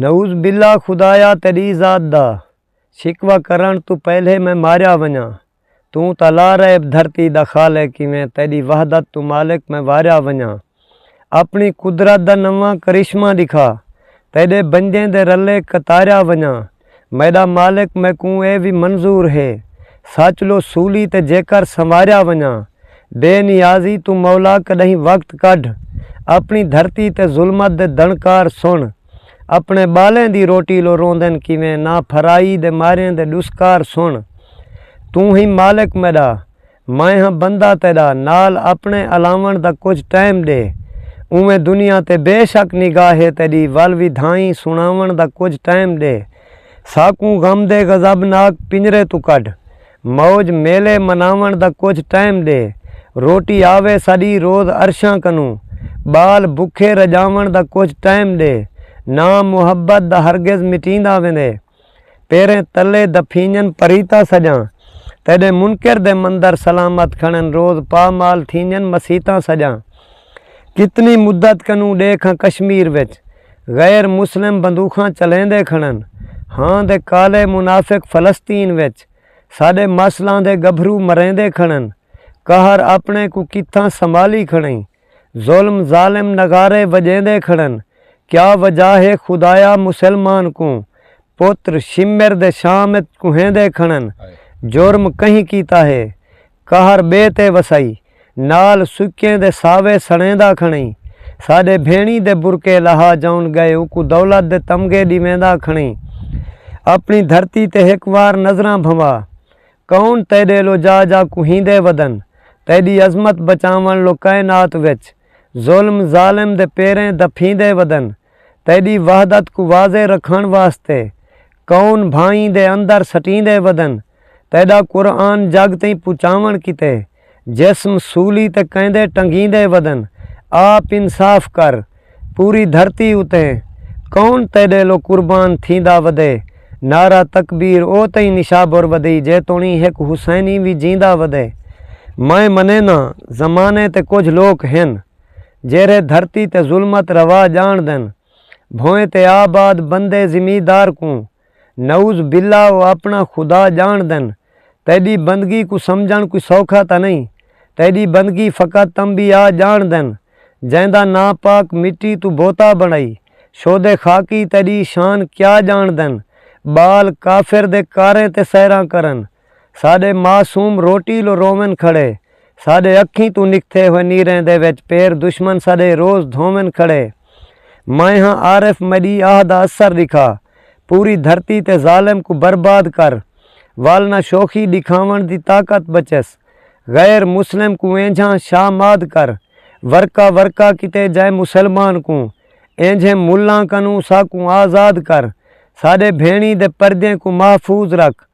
نعوذ باللہ خدایا تیݙی ذات دا شکوہ کرݨ توں پہلے میں ماریا ونڄاں توں تاں لا ریب دھرتی دا خالق کیویں تیݙی وحدت توں مالک میں واریا ونڄاں اپݨی قدرت دا نواں کرشمہ ݙکھا تیݙے بندیں دے رلے قطاریا ونڄاں میݙا مالک میکوں ایہ وی منظور ہے۔ سچ لو سولی تے جیکر سنواریا ونڄاں۔ بے نیازی توں مولا کݙاہیں وقت کڈھ۔ اپݨی دھرتی تے ظلمت دے دݨکار سݨ۔ اپݨے ٻالیں دی روٹی لو روندن کیویں نا پھرائی دے ماریں دے ݙسکار سݨ۔ توں ہیں مالک میݙا۔ میں ہاں بندہ تیݙا، نال اپݨے الاوݨ دا کجھ ٹائم ݙے۔ اونویں دنیا تے بے شک نگاہ ہے تیݙی ول وی دھائیں سݨاوݨ دا کجھ ٹائم ݙے۔ ساکوں غم دے غضب ناک پنجرے توں کڈھ۔ موج میلے مناوݨ دا کجھ ٹائم ݙے۔ روٹی آوے ساݙی روز عرشاں کنوں۔ ٻال بکھے رڄاوݨ دا کجھ ٹائم ݙے۔ ناں محبت دا ہرگز مٹیندا ویندے۔ پیریں تلے دفینجن پریتہ سجاں تیڈے منکر دے مندر سلامت کھنن روز پا مال تھینجن مسیتاں سجاں کتنی مدت کنوں ڈیکھ ہاں کشمیر وچ غیر مسلم بندوخاں چلیندے کھنن ہاں دے کالے منافق فلسطین وچ ساڈے ماسلاں دے گبھرو مریندے کھنن قہر اپنے کوں کتھاں سنبھالی کھنیں ظلم ظالم نغارے وجیندے کھڑن کیا وجہ ہے خدایا مسلمان کوں پتر شمر دے شام اچ کوہیندے کھڑن جرم کہیں کیتا ہے قہر بے تے وسائی نال سکیں دے ساوے سڑیندا کھڑیں ساڈے بھینڑی دے برکے لہا جاؤن گئے اوکوں دولت دے تمغے ڈیویندا کھڑیں اپنی دھرتی تے ہک وار نظراں بھنوا کون تیڈے لو جا جا کوہیندے ودن تیڈی عظمت بچاون لو کائنات وچ ظلم ظالم دے پیریں دپھیندے ودن تیڈی وحدت کوں واضح رکھن واسطے کون بھائیں دے اندر سٹیندے ودن تیڈا قرآن جگ تئیں پچاون کیتے جسم سولی تے کیندے ٹنگیندے ودن آپ انصاف کر پوری دھرتی اتے کون تیڈیلو قربان تھیندا ودے نعرہ تکبیر او تئیں نشابر ودی جے توڑیں ہک حسینی وی جیندا ودے میں منیناں زمانے تے کجھ لوک ہن جیرھے دھرتی تے ظلمت روا جانڑدن بھوئیں تے آباد بندے زمیدار کوں نعوذ باللہ او اپݨا خدا ڄاݨدن، تیݙی بندگی کوں سمجھݨ کوئی سوکھا تاں نئیں، تیݙی بندگی فقط انبیاء ڄاݨدن جیندا ناں پاک مٹی توں بوتا بݨائی شود خاکی تیݙی شان کیا ڄاݨدن ٻال کافر دے کاریں تے سحراں کرن، ساݙے معصوم روٹی لو روون کھڑے ساݙے اکھیں توں نکھتے ہوئے نیریں دے وچ پیر دشمن ساݙے روز دھوون کھڑے میں ہاں عارف میݙی آہ دا اثر ݙکھا پوری دھرتی تے ظالم کوں برباد کر ول نہ شوخی ݙکھاوݨ دی طاقت بچس غیر مسلم کوں اینجھاں شاہ ماد کر ورقہ ورقہ کیتے جائے مسلمان کوں اینجھیں ملاں کنوں ساکوں آزاد کر ساݙے بھیݨیں دے پردیں کوں محفوظ رکھ